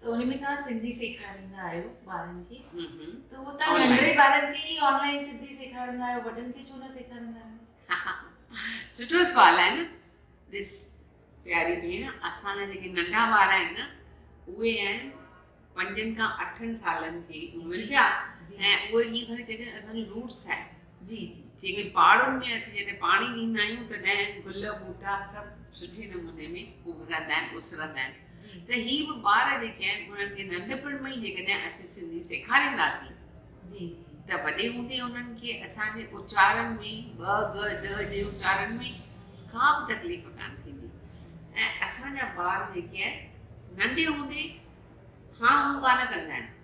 ته ان ۾ توهان سنڌي سيکاريندا آهيو ٻارن کي ته اهو توهان ننڍڙي ٻارن کي ئي آنلائن سنڌي سيکاريندا آهيو وڏن کي ڇو نه سيکاريندا آهيو سٺو سوال آهي نه ڏس پياري ڀيڻ اسان جا جيڪي ننڍا ٻار آهن نه اهي آهن پنجن کان اٺن سالن جي عمر جا ۽ اهي ائين کڻي چئجي اسان جون روٽس آهن جي جي جيڪي پاڙن ۾ اسين جڏهن پاڻي ڏيندا آهيون تڏهن گل ٻوٽا سڀ سٺي نموني ۾ اڀرندا آهن اسرندا آهن ته هي به ٻار جيڪي آهن انهن کي ننڍپڻ ۾ ئي جيڪڏهن اسين سنڌي سيکارينداسين جي جي ته وڏي هوندي انهن کي اسان جي اچارن ۾ ٻ ڳ ڏ جي اچارن ۾ ڪا به تڪليف ڪان ٿيندي ۽ اسان جا ٻار جيڪي آهن ننڍي هوندي هاڻ هون ڪانه ڪندا آهن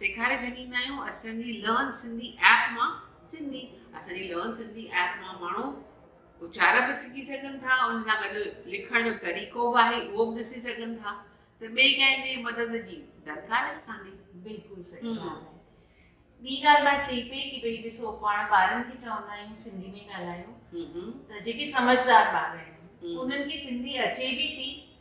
سيکاري ڇڏيندا آهيون اسان جي لرن سنڌي ايپ مان سنڌي اسان جي لرن سنڌي ايپ مان ماڻهو اچار به سکي سگهن ٿا ان سان گڏ لکڻ جو طريقو به آهي اهو به ڏسي سگهن ٿا ته ٻئي ڪنهن جي مدد جي درڪار ئي ڪانهي بلڪل صحيح ڳالهه آهي ٻي ڳالهه مان چئي پئي ڪي ڀئي ڏسو پاڻ ٻارن کي چوندا آهيون سنڌي ۾ ڳالهايو ته جيڪي سمجهدار ٻار آهن انهن کي سنڌي اچي به ٿي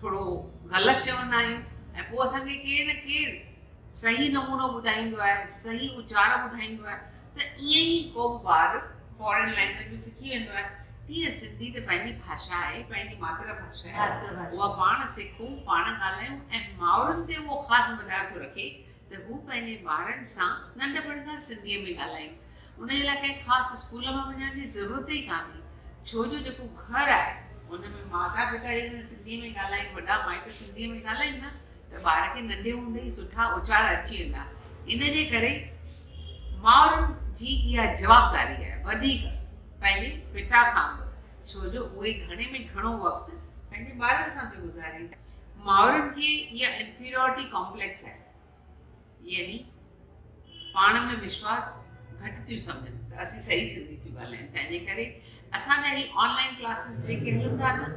ٿورو غلط چوندا آهيون ۽ پوء اسان کي ڪير نه ڪير صحيح نمونو ٻڌائيندو آهي، صحيح اچار ٻڌائيندو آهي ته ائين ئي ڪو به ٻار فارين لينگويج ۾ سکي ويندو آهي، تيئن سنڌي ته پنهنجي ڀاشا آهي، پنهنجي ماتر ڀاشا آهي، اها پاڻ سکون، پاڻ ڳالهايون ۽ مائرن تي اهو خاص مدار ٿو رکي ته هو پنهنجي ٻارن سان ننڍپڻ کان سنڌيء ۾ ڳالهائين. ان جي لاء ڪنهن خاص اسڪول ۾ وڃڻ جي ضرورت ئي ڪانهي، ڇو جو جيڪو گهر آهي، ان ۾ ماتا پتا جيڪڏهن سنڌيء ۾ ڳالهائين، وڏا مائٽ سنڌيء ۾ ڳالهائين نه ته ٻار کي ننڍي هوندي ئي سٺا اچار اچي ويندا. ان جي ڪري مائرن جي اها جوابداري آهي، وڌيڪ پنهنجي پتا کان به، ڇو جو اهي گهڻي ۾ گهڻو وقت پنهنجي ٻارن سان ٿيون گذارين. مائرن کي اها انفيريارٽي ڪامپليڪس آهي يعني پاڻ ۾ وشواس گهٽ ٿيون سمجهن ته اسين صحيح سنڌي ٿيون ڳالهايون تنهنجي ڪري اسان جا هي آنلائن ڪلاسز جيڪي هلن ٿا نه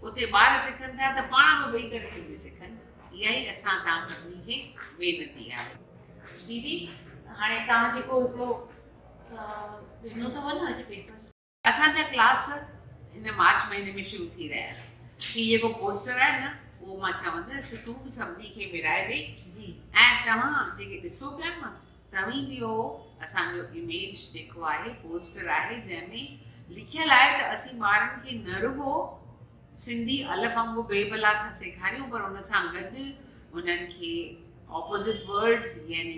اتي ٻار سکن ٿا ته پاڻ به ويهي ڪري سنڌي سکن اها ئي اسان تان سڀني کي وينتي آهي ديدي هاڻي تان جيڪو هڪڙو ڏنو اٿو نه اڄ پيپر اسان جا ڪلاس هن مارچ مهيني ۾ شروع ٿي رهيا آهن. هي جيڪو پوسٽر آهي نه اهو مان چوندس ته تون به سڀني کي ورهائي ڏي جي ۽ توهان جيڪي ڏسو پيا نه توهين به اهو اسان جو اميج جيڪو آهي پوسٽر آهي جنهن ۾ لکيل آهي ته اسين ٻارن کي نه رڳو سنڌي الف انگو بي بلا ٿا سيکاريون پر ان سان گڏ انهن کي اپوزٽ ورڊز يعني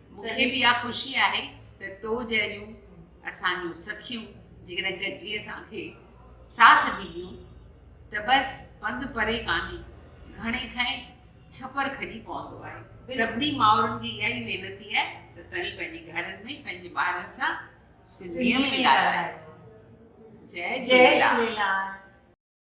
مون کي به اها خوشي آهي ته تو جهڙيون اسان جون سکيون جيڪڏهن گڏجي اسان کي ساٿ ڏينديون ته بس پنڌ پري ڪانهي گهڻي کئي ڇپر کڄي پوندو آهي سڀني مائرن کي اها ئي وينتي آهي ته توهين پنهنجي گهرن ۾ پنهنجي ٻارن سان سنڌيء ۾ ڳالهايو جي جي جي